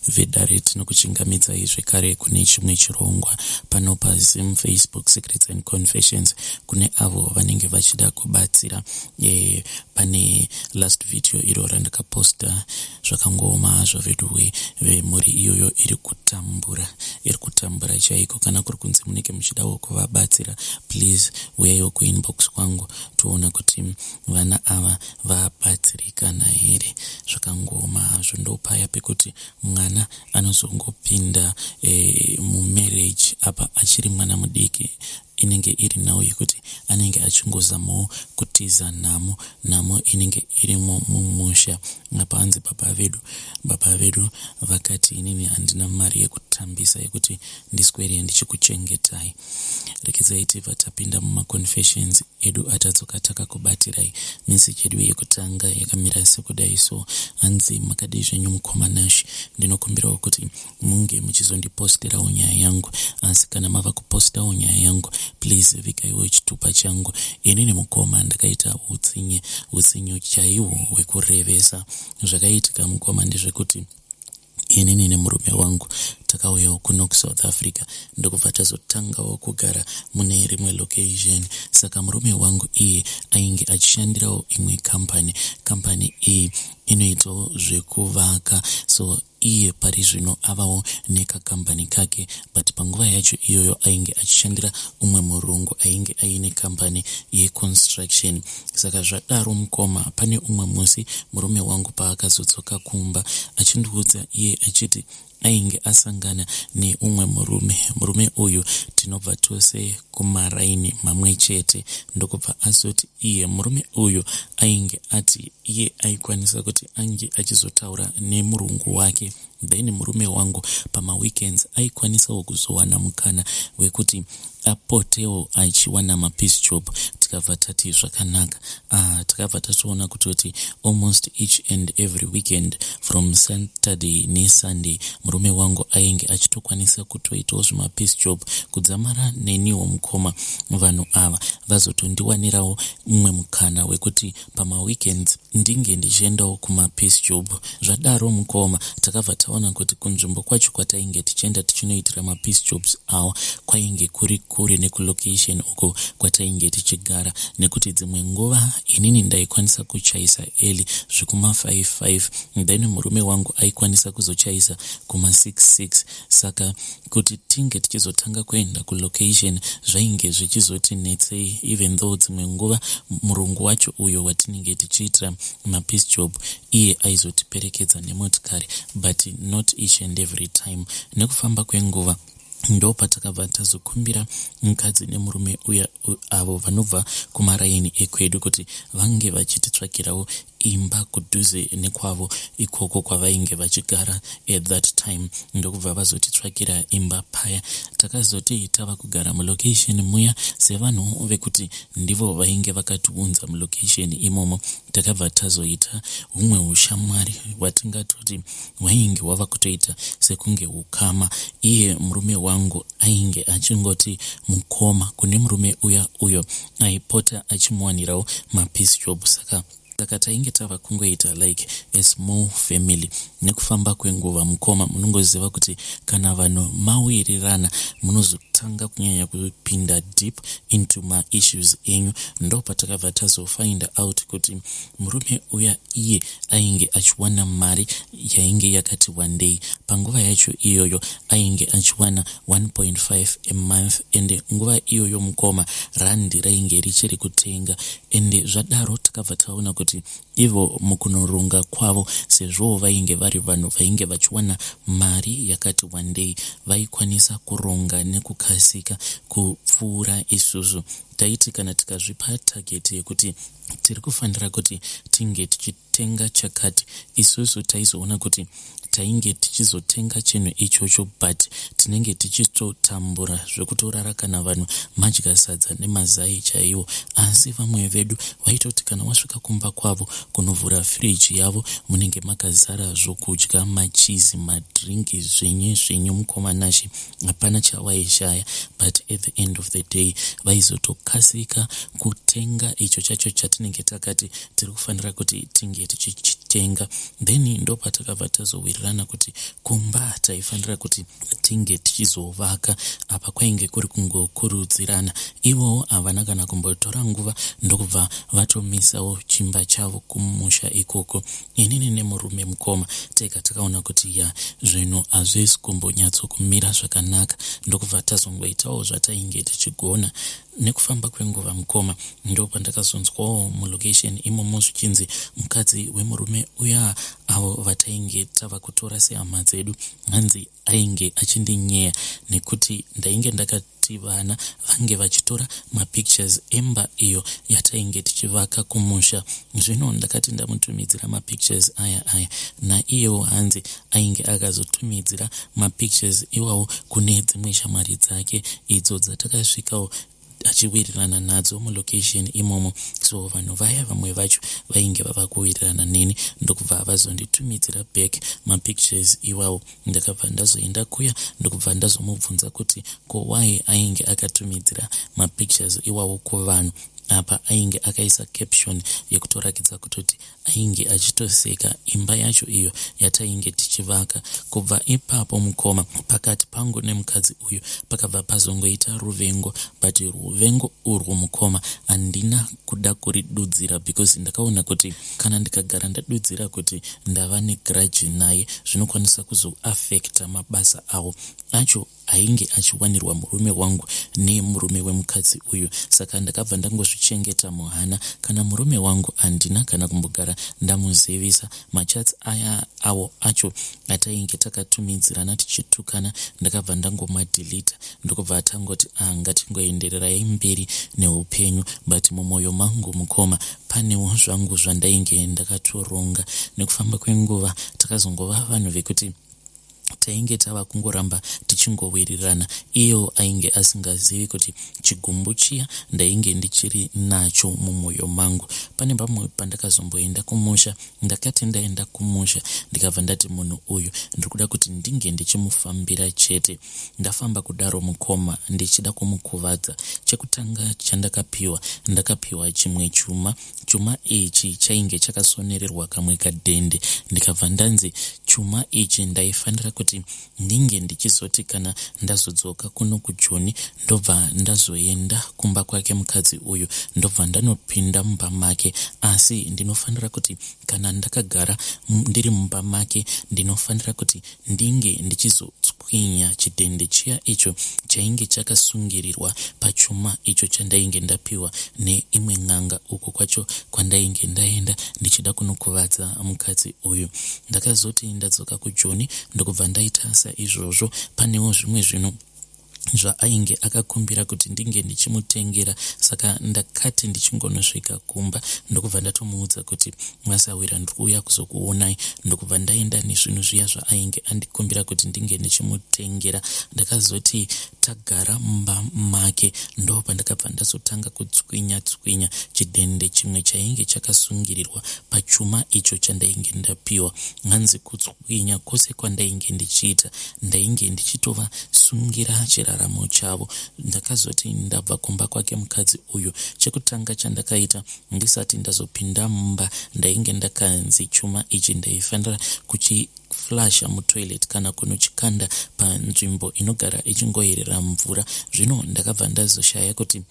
vedare tinokuchingamidzai zvekare kune chimwe chirongwa pano pazim facebook secrets and confessions kune avo vanenge vachida kubatsira e, pane last video iro randakaposta zvakangooma hazvo veduwe vemhuri iyoyo iri kutambura iri kutambura chaiko kana kuri kunzi munenge muchidawo kuvabatsira please uyaiwo kuinbox kwangu toona kuti vana ava vabatsirikana here zvakangooma hazvo ndopaya pekuti mwana anozongopinda e, mumarriage apa achiri mwana mudiki inenge iri nhau yekuti anenge achingozamawo kutiza nhamo nhamo inenge irimo mumusha apa hanzi baba vedu baba vedu vakati inini handina mari yekutambisa yekuti ndiswere ndichikuchengetai rekedzai tibva tapinda mumaconfessions edu atadzoka takakubatirai misi chedu yekutanga yakamira sekudai so hanzi makadii zvenyu mukoma nash ndinokumbirawo kuti munge muchizondipostirawo nyaya yangu asi kana mava kupostawo nyaya yangu please vikaiwo chitupa changu ini nemukoma ndakaita utsinye utsinye chaihwo hwekurevesa zvakaitika mukoma ndezvekuti inini nemurume wangu takauyawo kuno kusouth africa ndokubva tazotangawo kugara mune rimwe location saka murume wangu iye ainge achishandirawo imwe kambani kambani iyi inoitwawo zvekuvaka so iye pari zvino avawo nekakambani kake but panguva yacho iyoyo ainge achishandira umwe murungu ainge aine kambani yeconstruction saka zvadaro mukoma pane umwe musi murume wangu paakazodzoka kumba achindiudza iye achiti ainge asangana neumwe murume murume uyu tinobva tose kumaraini mamwe chete ndokubva azoti iye murume uyu ainge ati iye aikwanisa kuti ange achizotaura nemurungu wake then murume wangu pamaweekends aikwanisawo kuzowana mukana wekuti apotewo achiwana mapiece job tikabva tati zvakanaka ah, takabva tatoona kutoti almost each and every weekend from saturday nesunday murume wangu ainge achitokwanisa kutoitawo zvimapiece job kudzamara neniwo mukoma vanhu ava vazotondiwanirawo mumwe mukana wekuti pamaweekends Ndinge ndichiendawo kuma Peace Job. Zvadaro mukoma takabva taona kuti kunzvimbo kwacho kwatainge tichienda tichinoitira ma Peace Jobs awa kwainge kuri kure neku location uko kwatainge tichigara nekuti dzimwe nguva inini ndaikwanisa kuchaisa early zvekuma five five then murume wangu aikwanisa kuzochaisa kuma six six saka kuti tinge tichizotanga kuenda kulocation zvainge zvichizoti netsei even though dzimwe nguva murungu wacho uyo watinenge tichiitira mapiece job iye aizotiperekedza nemotikari but not each and every time nekufamba kwenguva ndopatakabva tazokumbira mukadzi nemurume uya avo vanobva kumaraini ekwedu kuti vange vachititsvakirawo imba kudhuze nekwavo ikoko kwavainge vachigara at that time ndokubva vazotitsvakira imba paya takazoti tava kugara mulocation muya sevanhu vekuti ndivo vainge vakatiunza mulocation imomo takabva tazoita humwe ushamwari hwatingatoti hwainge hwava kutoita sekunge ukama iye murume wangu ainge achingoti mukoma kune murume uya uyo aipota achimuwanirawo mapiece job saka saka tainge tava kungoita like a small family nekufamba kwenguva mukoma munongoziva kuti kana vanhu mawirirana munozotanga kunyanya kupinda deep into maissues enyu ndo patakabva tazofinda out kuti murume uya iye ainge achiwana mari yainge yakati wandei panguva yacho iyoyo ainge achiwana 1.5 a month ende nguva iyoyo mukoma randi rainge richiri kutenga ende zvadaro tikabva taona kuti ivo mukunorunga kwavo sezvowo vainge vari vanhu vainge vachiwana mari yakati wandei vaikwanisa kuronga nekukasika kupfuura isusu taiti kana tikazvipa tageti yekuti tiri kufanira kuti tinge tichi tenga chakati isusu taizoona kuti tainge tichizotenga chinhu ichocho but tinenge tichitotambura zvekutorara kana vanhu madya sadza nemazai chaiwo asi vamwe vedu vaitoti kana wasvika kumba kwavo kunovhura firiji yavo munenge makazara zvokudya machizi madrinki zvenye zvenye mukoma nashe hapana chawaishaya but at the end of the day vaizotokasika kutenga icho chacho chatinenge takati tiri kufanira kuti tinge tichichitenga then ndopatakabva tazowirirana kuti kumba taifanira kuti tinge tichizovaka apa kwainge kuri kungokurudzirana ivowo havana kana kumbotora nguva ndokubva vatomisawo chimba chavo kumusha ikoko inini nemurume mukoma tega takaona kuti ya zvinhu hazvisi kumbonyatsokumira zvakanaka ndokubva tazongoitawo zvatainge tichigona Nekufamba kwenguva mukoma ndopandakazonzwawo mulocation imomo zvichinzi mukadzi wemurume uya avo vatainge tava kutora sehama dzedu hanzi ainge achindinyeya nekuti ndainge ndakati vana vange vachitora mapictures emba iyo yatainge tichivaka kumusha. Zvino ndakati ndamutumidzira mapictures aya aya naiyewo hanzi ainge akazotumidzira mapictures iwawo kune dzimwe shamwari dzake idzo dzatakasvikawo achiwirirana nadzo mulocation imomo so vanhu vaya vamwe vacho vainge vava kuwirirana neni ndokubva vazonditumidzira back mapictures iwawo ndakabva ndazoenda kuya ndokubva ndazomubvunza kuti ko why ainge akatumidzira mapictures iwawo kuvanhu apa ainge akaisa caption yekutorakidza kutoti ainge achitoseka imba yacho iyo yatainge tichivaka kubva ipapo mukoma pakati pangu nemukadzi uyu pakabva pazongoita ruvengo but ruvengo urwu mukoma handina kuda kuridudzira because ndakaona kuti kana ndikagara ndadudzira kuti ndava negrudge naye zvinokwanisa kuzoaffecta mabasa awo acho ainge achiwanirwa murume wangu nemurume wemukadzi uyu saka ndakabva ndangozvichengeta muhana kana murume wangu handina kana kumbogara ndamuzivisa machats aya awo acho atainge takatumidzirana tichitukana ndakabva ndangomadhilita ndokubva atangoti ah ngatingoendererai mberi neupenyu but mumwoyo mangu mukoma panewo zvangu zvandainge ndakatoronga nekufamba kwenguva takazongova vanhu vekuti tainge tava kungoramba tichingowirirana iyo ainge asingazivi kuti chigumbu chiya ndainge ndichiri nacho mumwoyo mangu pane pamwe pandakazomboenda kumusha ndakati ndaenda kumusha ndikabva ndati munhu uyu ndiri kuda kuti ndinge ndichimufambira chete ndafamba kudaro mukoma ndichida kumukuvadza chekutanga chandakapiwa ndakapiwa chimwe chuma chuma ichi chainge chakasonererwa kamwe kadhende ndikabva ndanzi chuma ichi ndaifanira kuti ndinge ndichizoti kana ndazodzoka kuno kujoni ndobva ndazoenda kumba kwake mukadzi uyu ndobva ndanopinda mumba make asi ndinofanira kuti kana ndakagara ndiri mumba make ndinofanira kuti ndinge ndichizotswa Bwinya chidhende chiya icho chainge chakasungirirwa pachuma icho chandainge ndapiwa neimwe n'anga uko kwacho kwandainge ndaenda ndichida kunokuvadza mukadzi uyu. Ndakazoti ndadzoka kujoni ndokubva ndaita saizvozvo panewo zvimwe zvinhu zvaainge akakumbira kuti ndinge ndichimutengera saka ndakati ndichingonosvika kumba ndokubva ndatomuudza kuti Mwasahwira ndiri kuuya kuzokuonai ndokubva ndaenda nezvinhu zviya zvaainge andikumbira kuti ndinge ndichimutengera ndakazoti tagara mumba make ndo pandakabva ndazotanga kutswinya tswinya chidhende chimwe chainge chakasungirirwa pachuma icho chandainge ndapiwa hanzi kutswinya kwose kwandainge ndichiita ndainge ndichitova sungira chiraramo chavo ndakazoti ndabva kumba kwake mukadzi uyu chekutanga chandakaita Ndisati ndazopinda mumba ndainge ndakanzi chuma ichi ndaifanira kuchi flasha mutoilet kana kunochikanda panzvimbo inogara ichingoyerera mvura zvino ndakabva ndazoshaya kuti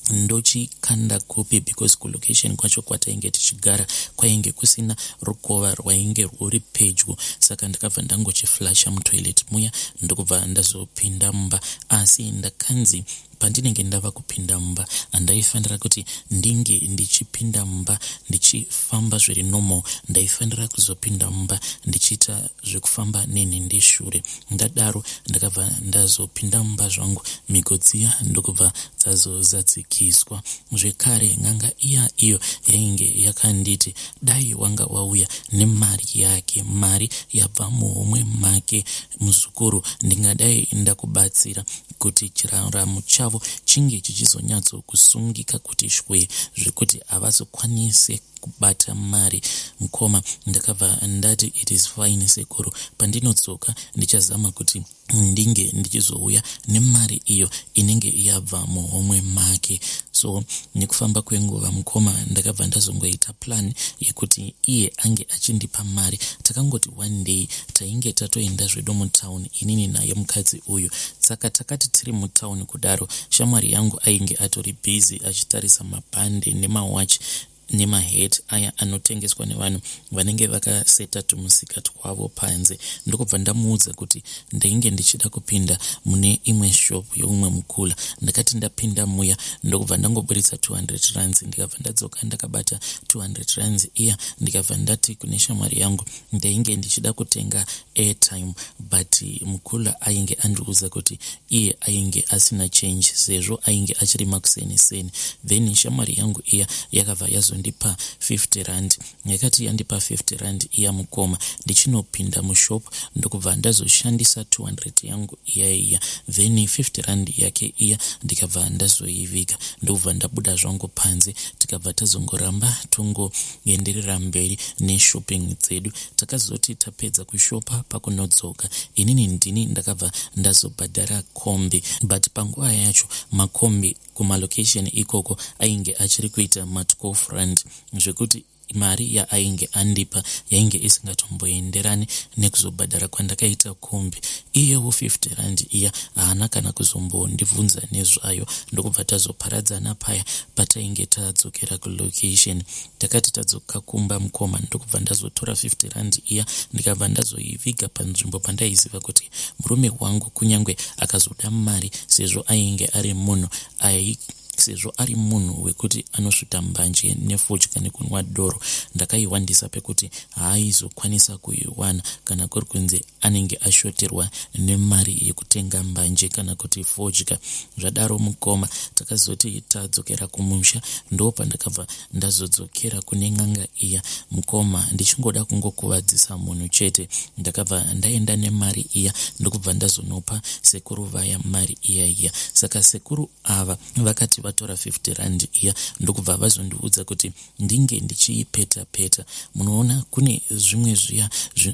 ndochikanda kupi because kulocation kwacho kwatainge tichigara kwainge kusina rukova rwainge rwuri pedyo saka ndakabva ndangochiflasha mutoilet muya ndokubva ndazopinda mumba asi ndakanzi Pandinenge ndava kupinda mumba ndaifanira kuti ndinge ndichipinda mumba ndichifamba zviri normal. Ndaifanira kuzopinda mumba ndichiita zvekufamba nenhindi shure. Ndadaro ndakabva ndazopinda mumba zvangu mhiko dziya ndokubva dzazozadzikiswa. Zvekare n'anga iya iyo yainge yakanditi dai wanga wauya nemari yake mari yabva muhomwe make Muzukuru, ndingadai ndakubatsira kuti chiraramo chavo chinge chichizonyatso kusungika kuti shwee zvekuti havazokwanise kubata mari. Mkoma, ndakabva ndati it is fine sekuru pandinodzoka ndichazama kuti ndinge ndichizouya nemari iyo inenge yabva muhomwe make. So nekufamba kwenguva mkoma ndakabva ndazongoita plan yekuti iye ange achindipa mari takangoti one day tainge tatoenda zvedu mutown inini naye mukadzi uyu saka takati tiri mutown kudaro shamwari yangu ainge atori busy achitarisa mabhande nemawatch nemahet aya anotengeswa nevanhu vanenge vakaseta tumusika twavo panze ndokubva ndamuudza kuti ndainge ndichida kupinda mune imwe shop youmwe mukula ndakati ndapinda muya ndokubva ndangoburitsa 200 rands ndikabva ndadzoka ndakabata 200 rands iya ndikabva ndati kune shamwari yangu ndainge ndichida kutenga airtime but mukula ainge andiudza kuti iye ainge asina change sezvo ainge achirima kuseni seni then shamwari yangu iya yakabva yazondipa 50 rand Yakati yandipa 50 rand iya mukoma ndichinopinda mushop ndokubva ndazoshandisa 200 yangu iya iya then 50 rand yake iya ndikabva ndazoiviga ndokubva ndabuda zvangu panze tikabva tazongoramba tongoenderera mberi neshopping dzedu takazoti tapedza kushopa pakunodzoka inini ndini ndakabva ndazobhadhara kombi but panguva yacho makombi kumalocation ikoko ainge achiri kuita matwo front zvekuti mari yaainge andipa yainge isingatomboenderani nekuzobhadhara kwandakaita kombi iyewo 50 rand iya haana kana kuzombondibvunza nezvayo ndokubva tazoparadzana paya patainge tadzokera kulocation Takati tadzoka kumba mukoma ndokubva ndazotora 50 rand iya ndikabva ndazoiviga panzvimbo pandaiziva kuti murume wangu kunyange akazoda mari sezvo ainge ari munhu ai sezvo ari munhu wekuti anosvita mbanje nefodya nekunwa doro ndakaihwandisa pekuti haaizokwanisa kuiwana kana kuri kunzi anenge ashoterwa nemari yekutenga mbanje kana kuti fodya zvadaro mukoma takazoti tadzokera kumusha ndo pandakabva ndazodzokera kune n'anga iya mukoma ndichingoda kungokuvadzisa munhu chete ndakabva ndaenda nemari iya ndokubva ndazonopa sekuru vaya mari iya iya saka sekuru ava vakati vatora 50 rand iya ndokubva vazondiudza kuti ndinge ndichiipeta peta munoona kune zvimwe zviya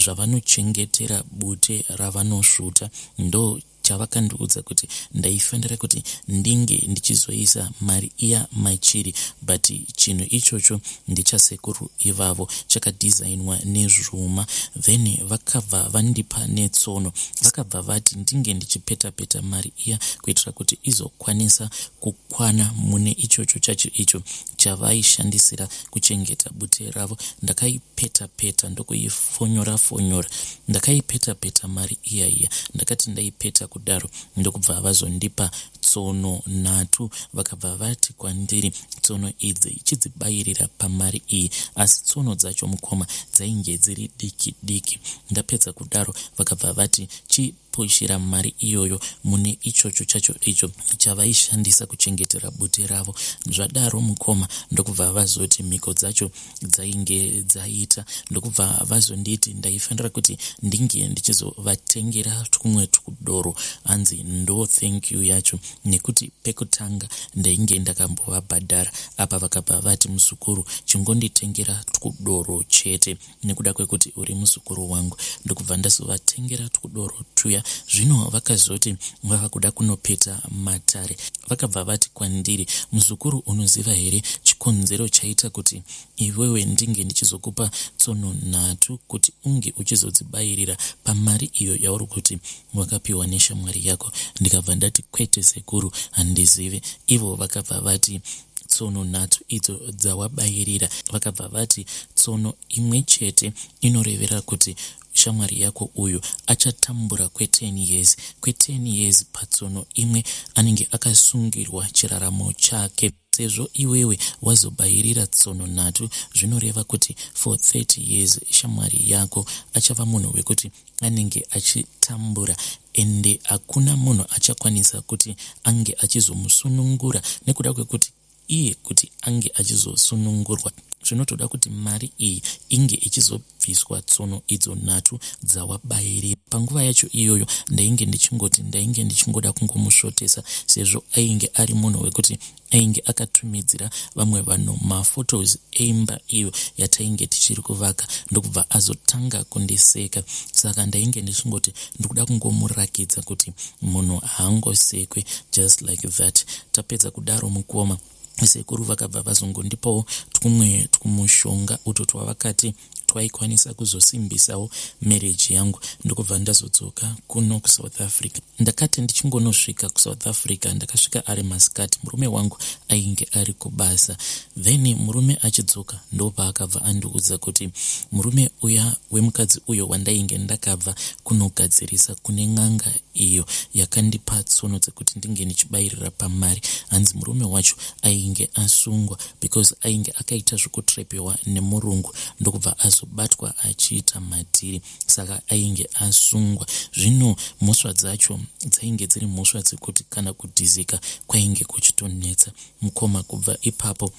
zvavanochengetera bute ravanosvuta ndo chavakandiudza kuti ndaifanira kuti ndinge ndichizoisa mari iya machiri but chinhu ichocho ndechasekuru ivavo chakadhizainwa nezvuma then vakabva vandipa netsono vakabva vati ndinge ndichipetapeta mari iya kuitira kuti izokwanisa ku kwana mune ichocho chacho icho chavaishandisira kuchengeta bute ravo ndakaipeta peta ndokuifonyora fonyora ndakaipeta peta mari iya iya ndakati ndaipeta kudaro ndokubva vazondipa tsono nhatu vakabva vati kwandiri tsono idzi ichidzibayirira pamari iyi asi tsono dzacho mukoma dzainge dziri diki diki ndapedza kudaro vakabva vati chi punhira mari iyoyo mune ichocho chacho icho chavaishandisa kuchengetera bute ravo zvadaro mukoma ndokubva vazoti mhiko dzacho dzainge dzaita ndokubva vazonditi ndaifanira kuti ndinge ndichizovatengera twumwe twudoro hanzi ndo thank you yacho nekuti pekutanga ndainge ndakambovabhadhara apa vakabva vati muzukuru chingonditengera twudoro chete nekuda kwekuti uri muzukuru wangu ndokubva ndazovatengera twudoro twuya zvino vakazoti vava kuda kunopeta matare vakabva vati kwandiri muzukuru unoziva here chikonzero chaita kuti iwewe ndinge ndichizokupa tsono nhatu kuti unge uchizodzibayirira pamari iyo yauri kuti wakapiwa neshamwari yako ndikabva ndati kwete sekuru handizive ivo vakabva vati tsono nhatu idzo dzawabayirira vakabva vati tsono imwe chete inorevera kuti shamwari yako uyu achatambura kwe10 years kwe10 years patsono imwe anenge akasungirwa chiraramo chake sezvo iwewe wazobayirira tsono nhatu zvinoreva kuti for 30 years shamwari yako achava munhu wekuti anenge achitambura ende hakuna munhu achakwanisa kuti ange achizomusunungura nekuda kwekuti iye kuti ange achizosunungurwa zvinotoda kuti mari iyi inge ichizobviswa tsono idzo nhatu dzawabairi panguva yacho iyoyo ndainge ndichingoti ndainge ndichingoda kungomusvotesa sezvo ainge ari munhu wekuti ainge akatumidzira vamwe vanhu maphotos eimba iyo yatainge tichiri kuvaka ndokubva azotanga kundiseka saka ndainge ndichingoti ndikuda kungomurakidza kuti munhu haangosekwe just like that tapedza kudaro mukoma sekuru vakabva vazongondipawo twumwe twumushonga utwo twavakati twaikwanisa kuzosimbisawo marriage yangu ndokubva ndazodzoka kuno kusouth africa ndakati ndichingonosvika kusouth africa ndakasvika ari masikati murume wangu ainge ari kubasa then murume achidzoka ndopaakabva andiudza kuti murume uya wemukadzi uyo wandainge ndakabva kunogadzirisa kune n'anga iyo yakandipa tsono dzekuti ndinge ndichibayirira pamari hanzi murume wacho ainge asungwa because ainge akaita zvekutrepewa nemurungu ndokubva azobatwa achiita madhiri saka ainge asungwa zvino mhosva dzacho dzainge dziri mhosva dzekuti kana kudhizika kwainge kuchitonetsa mukoma kubva ipapo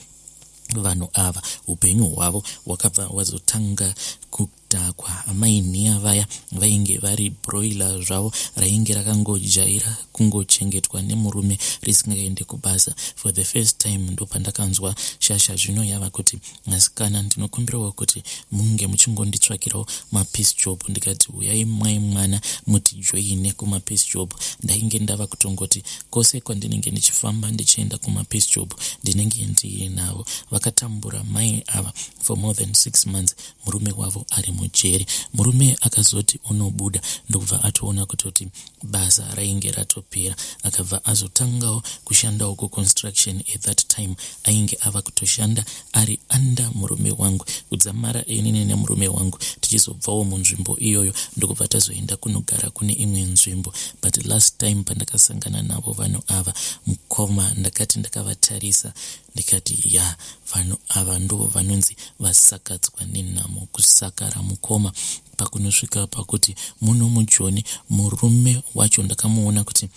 vanhu ava upenyu hwavo hwakabva hwazotanga kudhakwa amai nhiya vaya vainge vari broiler zvavo rainge rakangojaira kungochengetwa nemurume risingaende kubasa for the first time ndopandakanzwa shasha zvino yava kuti asikana ndinokumbirawo kuti munge muchingonditsvakirawo mapiece job ndikati uyai mwai mwana mutijoine kumapiece job ndainge ndava kutongoti kose kwandinenge ndichifamba ndichienda kumapiece job ndinenge ndiinawo vakatambura mai ava for more than six months murume wavo ari mujeri murume akazoti unobuda ndokubva atoona kutoti basa rainge ratopera akabva azotangawo kushandawo kuconstruction at that time ainge ava kutoshanda ari anda murume wangu kudzamara inini nemurume wangu tichizobvawo munzvimbo iyoyo ndokubva tazoenda kunogara kune imwe nzvimbo but last time pandakasangana navo vanhu ava mukoma ndakati ndakavatarisa ndikati ya vanhu ava ndo vanonzi vasakadzwa nenhamo kusakara mukoma pakunosvika pakuti muno mujoni murume wacho ndakamuona kuti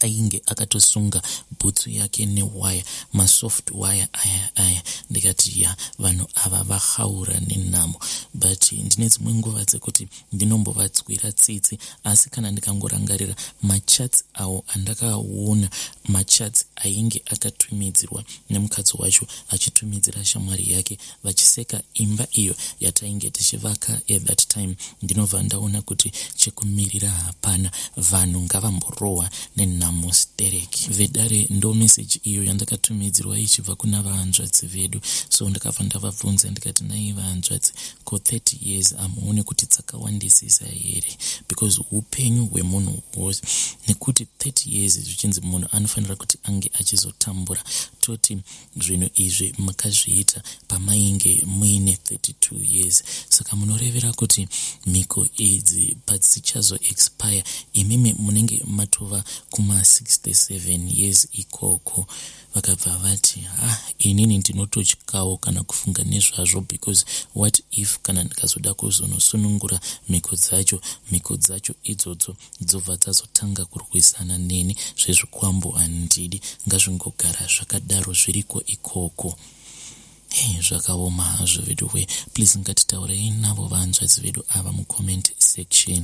ainge akatosunga bhutsu yake newaya masoft waya aya aya ndikati ya vanhu ava vahaura nenhamo but ndine dzimwe nguva dzekuti ndinombovatswira tsitsi asi kana ndikangorangarira machats awo andakaona machats ainge akatumidzirwa nemukadzi wacho achitumidzira shamwari yake vachiseka imba iyo yatainge tichivaka at that time ndinobva ndaona kuti chekumirira hapana vanhu ngavamborohwa nenhamo stereki vedare ndo meseji iyo yandakatumidzirwa ichibva kuna vahanzvadzi vedu so ndakabva ndavabvunza ndikati nai vahanzvadzi Ko 30 years amuone kuti dzakawandisisa here because upenyu hwemunhu hwose nekuti 30 years zvichinzi munhu anofanira kuti ange achizotambura toti zvinhu izvi makazviita pamainge muine 32 years saka munorevera kuti mhiko idzi padzichazo expire imimi munenge matova kuma 67 years ikoko vakabva vati ah inini ndinototyawo kana kufunga nezvazvo because what if kana ndikazoda kuzonosunungura mhiko dzacho mhiko dzacho idzodzo dzobva dzazotanga kurwisana neni zvezvikwambo handidi ngazvingogara zvakadaro zviriko ikoko hey, zvakaoma hazvo vedu we please ngatitaurei navo vanzvadzi vedu ava mucomment section